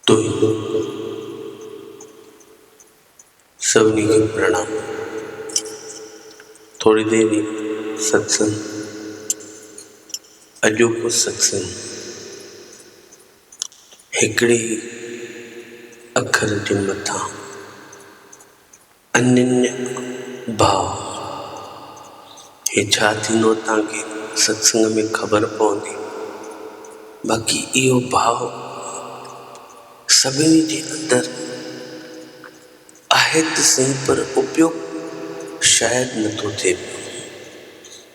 توهين سڀني کي پرڻام. ٿوري دير اي ستسنگ اڄوڪو ستسنگ هڪڙي ئي اکر جي مٿان انيل ڀاء هي ڇا ٿيندو تان کي ستسنگ ۾ خبر پوندي باقي اهو ڀاء سڀني جي اندر آهي ته سهي پر اپيوگ شايد نٿو ٿئي پيو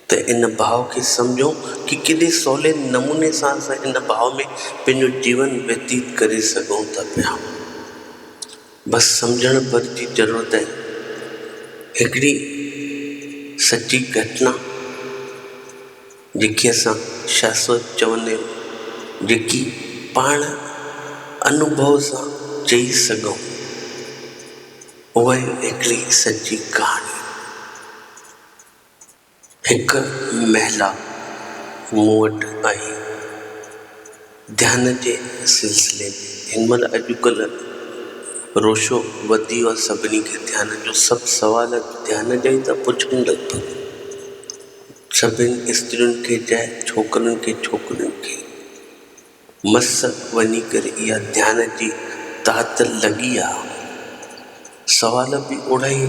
ته ان ڀاء کي سمجهون ڪي ڪيڏي سولي نموني سان اسان ان ڀاء ۾ پنهنجو جيون ويتيت ڪري سگهون ٿا پيا بس سمجهڻ ڀر جي ضرورت آهي. هڪڙي سچي گهٽنا جيڪي اسان شاهه سوچ چوندا آهيون جيڪي پاڻ انوڀو سان چئي سگهون اهائي هڪڙي سچي ڪهاڻي. هڪ محلا مون وٽ آهي. ڌيان جي سلسلي ۾ هن مهل اڄڪلهه روشو وڌي ويو آهي سڀني کي ڌيان جو سڀ سوال ڌيان جا ئي ٿا پڇن لڳ ڀڳ سڀني استرين کي چاهي ڇوڪرين کي ڇوڪرين کي. مس وڃي ڪري اها ڌيان جي تعطل لڳي آ. سوال به اوڙائي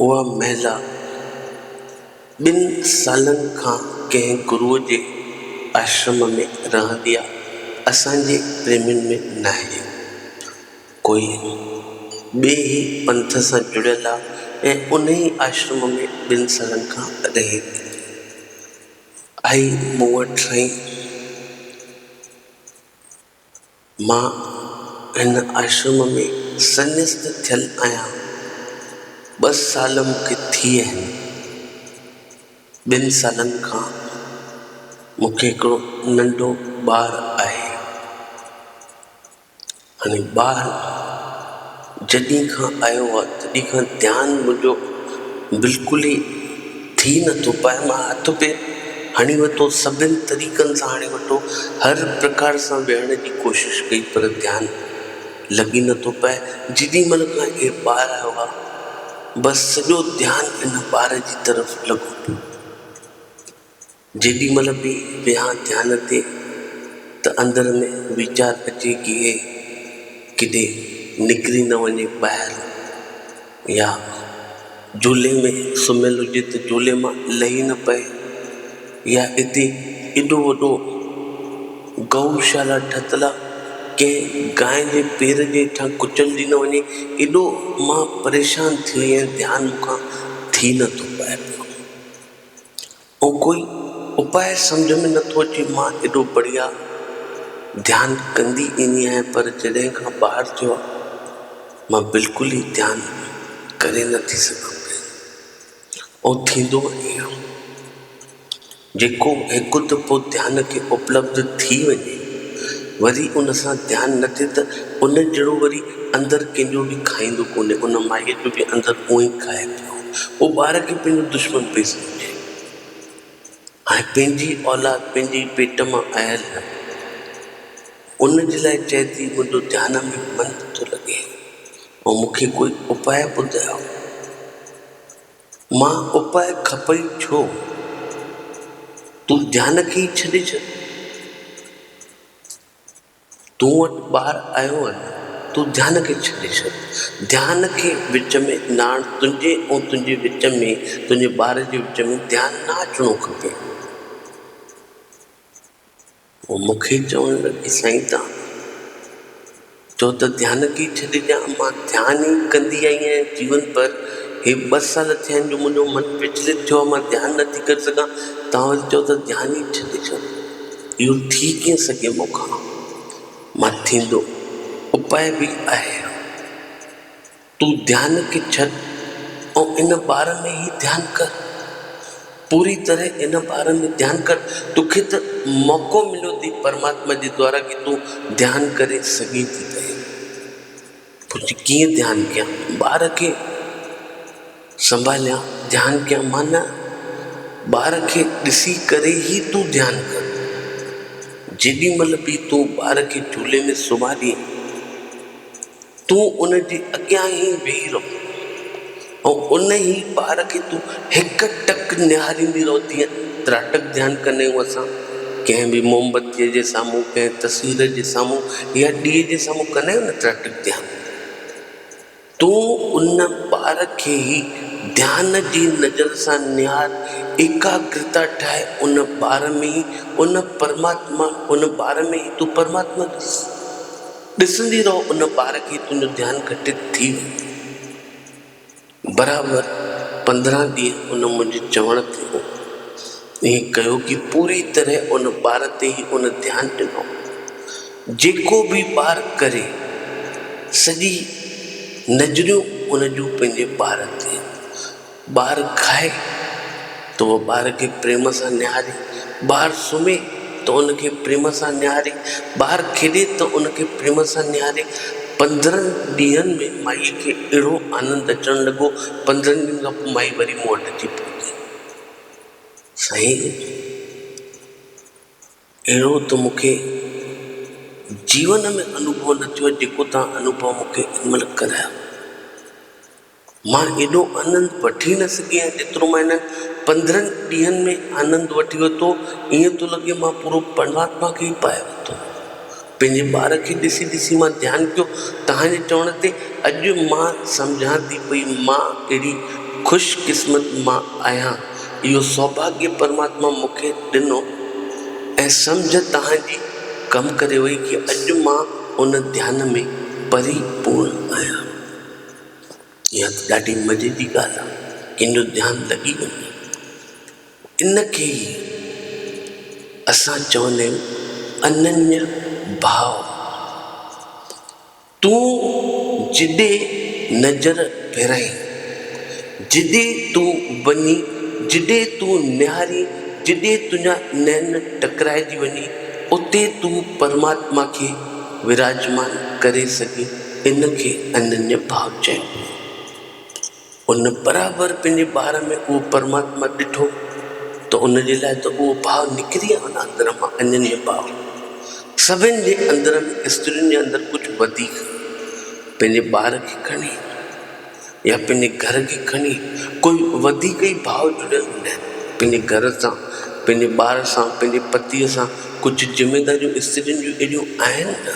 اها مهلا ٻن سالن کان ڪنهن گروء جي آشرم ۾ رهندي آ اسان جي پريمين ۾ ناهي ڪوئي ٻئي ئي پنٿ سان جڙيل آ ۽ انهي آشرم ۾ ٻن سالن کان رهي ٿي. آئي مون وٽ سائين! مان هن آشرم ۾ سنيست ٿيل آهيان. ٻه سال مون کي ٿي ويا آهن. ٻن سالن کان مون کي هڪڙو ننڍو ٻار آهي. هاڻي ٻار جڏهن کان آيو آ تڏهن کان ڌيان منهنجو بلڪل ئي ٿي نٿو پاء مان هٿ پير هڻي وتو سڀن طريقن سان هڻي وتو هر پرڪار سان ويهڻ جي ڪوشش ڪئي پر ڌيان لڳي نٿو پاء جيڏي مهل کان هي ٻار آيو آ بس سڄو ڌيان هن ٻار جي طرف لڳو پيو. جيڏي مھل به ويھان ڌيان تي ته اندر ۾ ويچار اچي ڪي ھي ڪيڏي نڪري نه وڃي ٻاھر يا جھولي ۾ سمھيل ھجي ته جھولي مان لھي نه پئي يا اتي ايڏو وڏو گئو شالا ٺھتل آ ڪنھن گانء جي پير جي ھيٺان ڪچلجي نه وڃي ايڏو مان پريشان ٿيو ۽ ڌيان مون کان ٿي نه ٿو پئي پيو. هو ڪوئي اپاء سمجهه ۾ نه ٿو اچي، مان ايڏو بڙيا ڌيان ڪندي ايندي آهيان پر جڏهن کان ٻار ٿيو آهي مان بلڪل ئي ڌيان ڪري نه ٿي سگهان پئي اهو ٿيندو ائين آهي جيڪو هڪ دفعو ڌيان کي اپلبڌ ٿي وڃي وري ان سان ڌيان نه ٿئي ته ان جهڙو وري اندر ڪنهن جو به کائيندو ڪونهي ان مائيء جو به اندر اونئي کائي پيو اهو ٻار کي پنهنجو دشمن پئي سمجهي. ۽ پنهنجي اولاد پنهنجي ئي پيٽ مان آيل آهي. ان جي لاء چيدي منهنجو ڌيان ۾ من نه ٿو لڳي ۽ مون کي ڪوئي اپاء ٻڌايو. مان اپاء کپئي ڇو؟ تون ڌيان کي ئي ڇڏي ڇڏ. تون وٽ ٻار آيو آهي، تون ڌيان کي ڇڏي ڇڏ. ڌيان کي وچ ۾ ناڻ تنهنجي ۽ تنهنجي وچ ۾ تنهنجي ٻار جي وچ ۾ ڌيان نه اچڻو کپي. هو مون کي چوڻ لڳي سائين توهان چئو ته ڌيان کي ئي ڇڏي ڏيان، مان ڌيان ئي ڪندي آئي آهيان جيون ڀر، هي ٻه سال ٿيا آهن جو منهنجو من وچلت ٿيو آهي مان ڌيان نٿي ڪري سگهان، توهان وري چئو ٿا ڌيان ئي ڇڏي ڇڏ. اهو ٿي ڪيئن سگهي مون کان مان ٿيندو اپاء به آهي اهڙو. تون ڌيان کي ڇڏ ۽ ان ٻار ۾ ئي ڌيان ڪر. پوري طرح ان ٻار ۾ ڌيان ڪر. توکي ته موقعو مليو اٿئي پرماتما جي دوارا ڪي تون ڌيان ڪري سگهين ٿي پئين. پوء ڪيئن ڌيان ڪيان ٻار کي سنڀاليان ڌيان ڪيان معنيٰ ٻار کي ڏسي ڪري ئي تون ڌيان ڪر جيڏي مھل به تون ٻار کي جھولي ۾ سمھارين تون ان جي اڳيان ئي ويھي رھو ۽ ان ئي ٻار کي تون هڪ ٽڪ نهاريندي رهو تيئن تراٽڪ ڌيان ڪنديون اسان ڪنهن به موم بتيء جي سامهون ڪنهن تصوير جي سامهون يا ڏيئي جي سامهون ڪندا آهيون نه تراٽڪ ڌيان تون ان ٻار کي ئي ڌيان جي نظر سان نهار ايڪاگرتا ٺاهي ان ٻار ۾ ئي ان پرماتما ان ٻار ۾ ئي تون پرماتما ڏس ڏسندي رهو ان ٻار کي ئي تنهنجو ڌيان گهٽت ٿي ويندو. برابر پندرهن ڏينهن ان منهنجي چوڻ تي هو. ائين ڪيو ڪي پوري طرح ان ٻار تي ئي ان ڌيان ڏنو. جيڪو به ٻار ڪري، سڄي نظريون ان جون پنهنجي ٻار تي. ٻار کائي. ته هوء ٻار کي پريم سان نهاري، ٻار سمهي ته ان کي پريم سان نهاري، ٻار کيڏي ته ان کي پريم سان نهاري. پندرهن ڏينهن ۾ مائيء کي اهڙو آنند اچڻ لڳو، پندرهن ڏينهن کان پوء مائي وري مون وٽ اچي پهتي. سائين! اهڙو ته مون کي جيون ۾ انوڀو نه ٿيو، جيڪو توهان انوڀو مون کي ان مهل ڪرايو. مان ايڏو آنند وٺي نه سگهيس جيترو مان انهن پندرهن ڏينهن ۾ آنند وٺي ورتو، ائين ٿو لڳي مان پورو پرماتما کي ئي پايو ورتو آهي. پنهنجي ٻار کي ڏسي ڏسي مان ڌيان ڪيو، توهان جي چوڻ تي اڄ مان سمجهان ٿي پئي مان ڪهڙي خوش قسمت مان آهيان، اهو سوڀاڳيه پرماتما مون کي ڏنو ۽ سمجهه توهان جي ڪم ڪري وئي ڪي اڄ مان ان ڌيان ۾ پري پورڻ آهيان. اها ته ڏاڍي مزي جي ڳالهه آهي. ڪنهن جو ڌيان لڳي وڃي ان کي ئي اسان چوندا آهيون اننيا ڀاء. تون جڏي نظر ڦيرائين، جڏي تون وڃين، جڏي تون نهارين، جڏي تنهنجا نين ٽڪرائجي وڃي، اتي تون پرماتما کي وراجمان ڪري سگهين. ان کي اننيا ڀاو چئبو آهي. ان برابر پنهنجي ٻار ۾ اهو پرماتما ڏٺو ته ان جي لاء ته اهو ڀاو نڪري آيو نه اندر مان اننيا ڀاو. سڀن جي اندر ۾ استرين جي اندر ڪجهه وڌيڪ پنهنجي ٻار کي کڻي يا پنهنجي گهر کي کڻي ڪوئي وڌيڪ ئي ڀاو جڙيل هوندا آهن پنهنجي گهر سان پنهنجي ٻار سان پنهنجي پتيء سان ڪجهه ذميداريون استرين جون اهڙيون آهن نه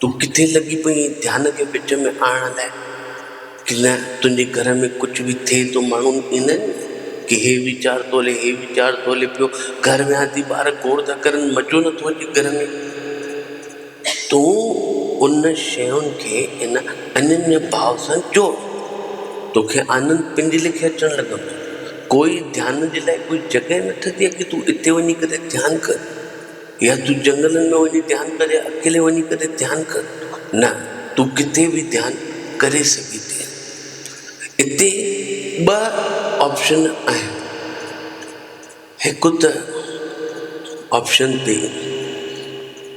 تون ڪٿي لڳي پئي آهين ڌيان کي وچ ۾ آڻڻ لاء ڪي نه تنهنجي گهر ۾ ڪجهه به ٿئي ٿو ماڻهون ايندا آهن ڪي هي ويچار ٿو هلي هي ويچار ٿو هلي پيو گهر ويهان ٿي ٻار گوڙ ٿا ڪرن مزو نٿو اچي گهر ۾ تون ان شين کي ان انيني ڀاو سان جوڙ توکي آنند پنهنجي ليکي اچڻ لڳندو ڪوئي ڌيان جي لاء ڪوئي جڳهه نه ٺهندي آهي ڪي تون اتي وڃي ڪري ڌيان ڪر يا تون جنگلن ۾ وڃي ڌيان ڪر يا اڪيلي وڃي ڪري ڌيان ڪر، نه تون ڪٿي به ڌيان ڪري سگهين ٿي. اتي ٻه آپشن آهن، هڪ ته آپشن تي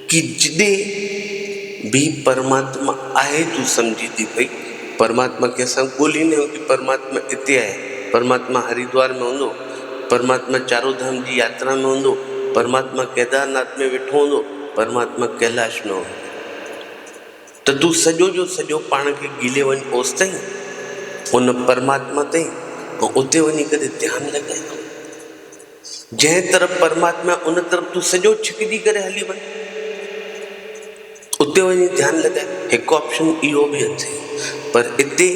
ڪي جڏهن به پرماتما آهي تون سمجهين ٿي پئي پرماتما کي اسان ڳولهين ٿي پرماتما اتي آهي، پرماتما هريدوار ۾ هوندو، پرماتما چاروڌام جي ياترا ۾ هوندو، پرماتما ڪيدارناٿ ۾ ويٺو هوندو، پرماتما ڪيلاش ۾ هوندو ته تون سڄو جو سڄو پاڻ کي گيلي وڃ اوستائين ان پرماتما تائين ۽ اتي وڃي ڪري ڌيان لڳائي ٿو جنهن طرف پرماتما ان طرف تون سڄو ڇڪجي ڪري هلي وڃ. اتي وڃي ڌيان لڳائي هڪ آپشن اهو به اٿئي پر اتي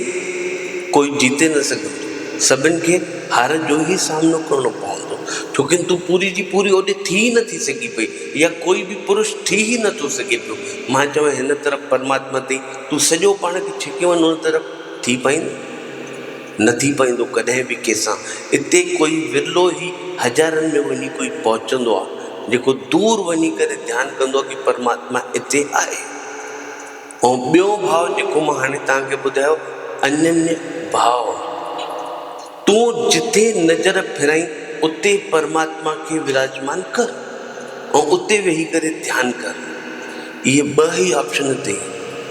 ڪوئي جيتي نه سگهندو سڀن کي هار جو ئي سامنو ڪرڻو پوندو ڇوڪن تون پوري جي پوري اوڏي ٿي ئي نٿي سگهي پئي يا ڪوئي به پرش ٿي ئي نٿو سگهي پيو مان چوان هن طرف پرماتما تي تون سڄو پاڻ کي ڇڪي وڃ ان طرف ٿي پائيندين. نه ٿي پوندو ڪڏهن به ڪنهن سان. اتي ڪوئي ورلو ئي هزارن ۾ وڃي ڪوئي پهچندو آهي جيڪو دور وڃي ڪري ڌيان ڪندو آهي ڪي پرماتما اتي آهي. ۽ ٻيو ڀاء جيڪو مان هاڻي توهان کي ٻڌايو انڃ ڀاء تون جتي نظر ڦرائين اتي پرماتما کي وراجمان ڪر ۽ اتي ويهي ڪري ڌيان ڪر. اهي ٻه ئي آپشن اٿئي.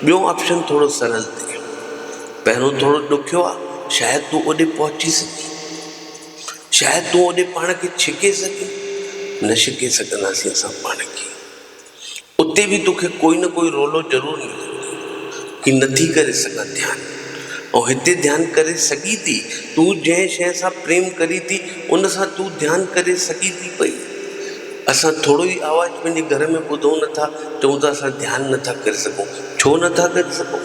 ٻيو آپشن ٿورو سرل اٿئي. پهريون ٿورو ڏکيو آ، شايد تون اوڏي پهچي سگهين. شايد تون اوڏي پاڻ کي ڇڪي سگهين. نه ڇڪي سگهنداسين اسان پاڻ کي. اتي به توکي ڪوئي نه ڪوئي رولو ضرور ملندو. ڪي نٿي ڪري سگهان ڌيان. ۽ هتي ڌيان ڪري سگهين ٿي. تون جنهن شيء سان پريم ڪرين ٿي، ان سان تون ڌيان ڪري سگهين ٿي پئي. اسان ٿورو ئي آواز پنهنجي گهر ۾ ٻڌون نٿا، چئون ٿا اسان ڌيان نٿا ڪري سگهون. ڇو نٿا ڪري سگهون؟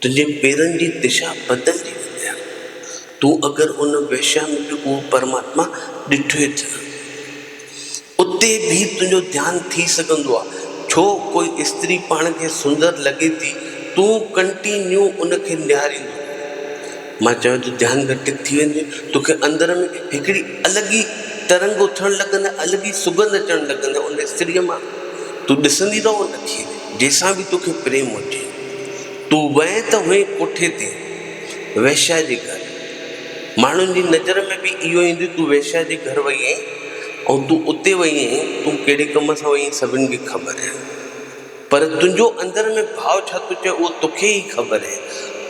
تنهنجي پيرن جي دشا بدلجي ويندي آهي. تون اگر ان ويشيا ۾ به اهو پرماتما ڏٺوئي ٿي. اتي به تنهنجو ڌيان ٿي سگهندو آهي. ڇو ڪوئي استري پاڻ کي سندر لڳي ٿي تون ڪنٽينيو ان کي نهاريندو رهين. مان چيو ته ڌيان ڳٽڪ ٿي ويندي توکي اندر ۾ هڪڙي الڳ ئي ترنگ اٿڻ لڳندي الڳ ئي سڳنڌ اچڻ لڳندي ان استريء مان. تون ڏسندي رهه ان کي. جيسان به توکي پريم هجي. تون وئين ته هئين ڪوٺي تي، ويشيا جي گهر. ماڻهن جي نظر ۾ به اهو ايندو تون ويشيا جي گهر وئي آهين ۽ تون اتي وئي آهين، تون ڪهڙي ڪم سان وئي آهين سڀن کي خبر آهي. پر تنهنجو اندر ۾ ڀاء ڇا ٿو چئي اهو توکي ئي خبر آهي.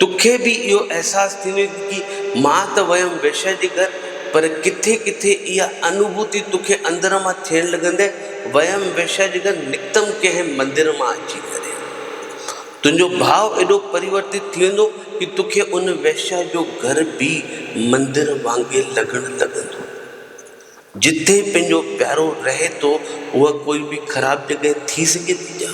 توکي به اهو احساس ٿيندو ته جي مان ته ويم ويشيا جي گهر پر ڪٿي ڪٿي اها انوڀوتي توکي اندر مان ٿيڻ لڳندي ويم ويشيا جيڏانهن نڪتم ڪنهن مندر مان اچي ڪري. تنهنجو ڀاء ايڏو پريورتت ٿي ويندو ڪي توکي ان ويشيا جو گهر به مندر وانگي لڳڻ لڳندو. جتي پنهنجو پيارو رهي ٿو اها ڪوئي به خراب جڳهه ٿي سگهي ٿي ڇا؟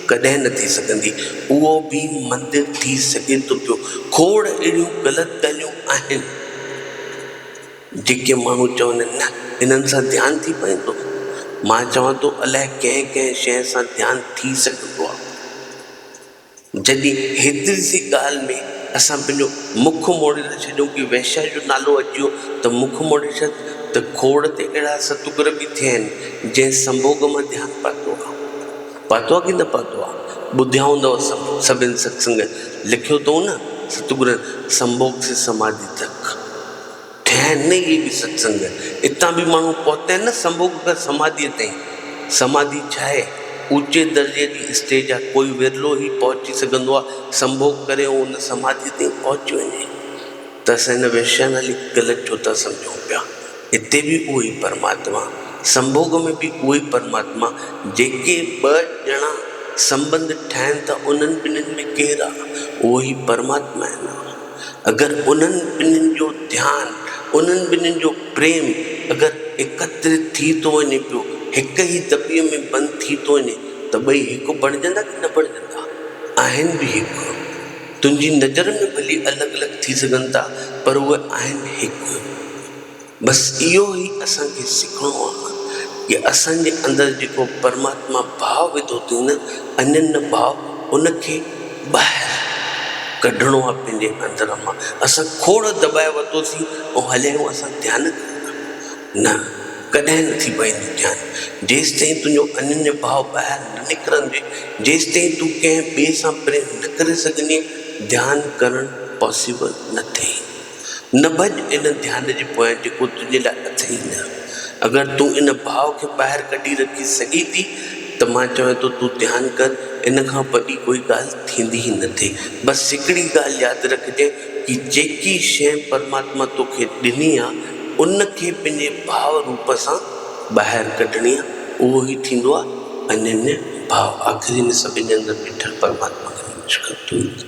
ڪڏهن نه ٿي سگهندي. اهو به مندر ٿي سگهي ٿو پيو. کوڙ اهڙيون غلط ڳالهيون آهن. جيڪي ماڻهو چوندين نه انهن سان ڌيان ٿي پوندو، مان چوان ٿو الائي ڪنهن ڪنهن شيء سان ڌيان ٿي سگهندو آ. جڏهن هيتري سي ڳالهه ۾ اسان پنهنجو مک موڙي ٿا ڇڏيون ڪي وئشيا جو نالو اچيو ته مک موڙي ڇڏ ته کوڙ تي اهڙا ستگر به ٿيا آهن جنهن سنڀوڳ مان ڌيان پاتو آ. پاتو آ ڪي نه پاتو آ؟ ٻڌيا هوندؤ سڀن ستسنگ، لکيو اٿئون نه ستگرن سنڀوڳ سي سماڌي تڪ. ٺهن نه اهي به ستسنگ. اتان به ماڻهو پهتين نه سنڀوڳ کان سماڌيء تائين. سماڌي ڇا آهي؟ اوچي درجي جي اسٽيج آهي. ڪوئي ورلو ئي پهچي سگهندو آهي. سنڀوڳ ڪري ۽ ان سماڌيء تائين پهچي وڃي ته اسان هن ويشيا نالي کي غلط ڇو ٿا سمجهون پيا؟ اتي به اهو ئي پرماتما. سنڀوڳ ۾ به اهو ئي پرماتما. جيڪي ٻه ڄڻا سنٻنڌ ٺاهن ٿا انهن ٻنهين ۾ ڪير آهي؟ اهو ئي پرماتما آهي نه. اگر انهن ٻنهين جو ڌيان، انهن ٻنهين جو پريم اگر ايڪترت ٿي ٿو وڃي پيو، هڪ ئي دٻي ۾ بند ٿي ٿو وڃي ته ٻئي هڪ بڻجندا ڪي نه بڻجندا؟ آهن به هڪ. تنهنجي نظر ۾ ڀلي الڳ الڳ ٿي سگهن ٿا پر اهي آهن هڪ. بس اهو ئي اسان کي سکڻو آهي ته اسان جي اندر جيڪو پرماتما ڀاء وڌو اٿئي نه اڃن نه ڀاء ان کي ٻاهر ڪڍڻو آهي پنهنجي اندر مان اسان کوڙ دٻائي ورتوسين ۽ هليا آهيون اسان ڌيان ڪرڻ نه ڪڏهن نه ٿي پوندو ڌيان جيستائين تنهنجو اڃن ڀاء ٻاهر نه نڪرندي جيستائين تون ڪنهن ٻئي سان پريم نه ڪري سگهندي ڌيان ڪرڻ پاسيبل نه ٿئي. نه ڀڄ ان ڌيان جي پويان جيڪو تنهنجي لاء اٿئي نه. اگر تون ان ڀاء کي ٻاهر ڪڍي رکي سگهين ٿي ته مان چوين ٿو تون ڌيان ڪر ان کان وڏي ڪوئي ڳالهه ٿيندي ئي نه ٿي. بس هڪڙي ڳالهه ياد رکجي ڪي جيڪي شيء پرماتما توکي ڏني آ ان کي پنهنجي ڀاء روپ سان ٻاهر ڪڍڻي آ اهو ئي ٿيندو آ انيني ڀاء آخري ۾ سڀن جي اندر ويٺل پرماتما کي نمشڪار ٿو ڪري.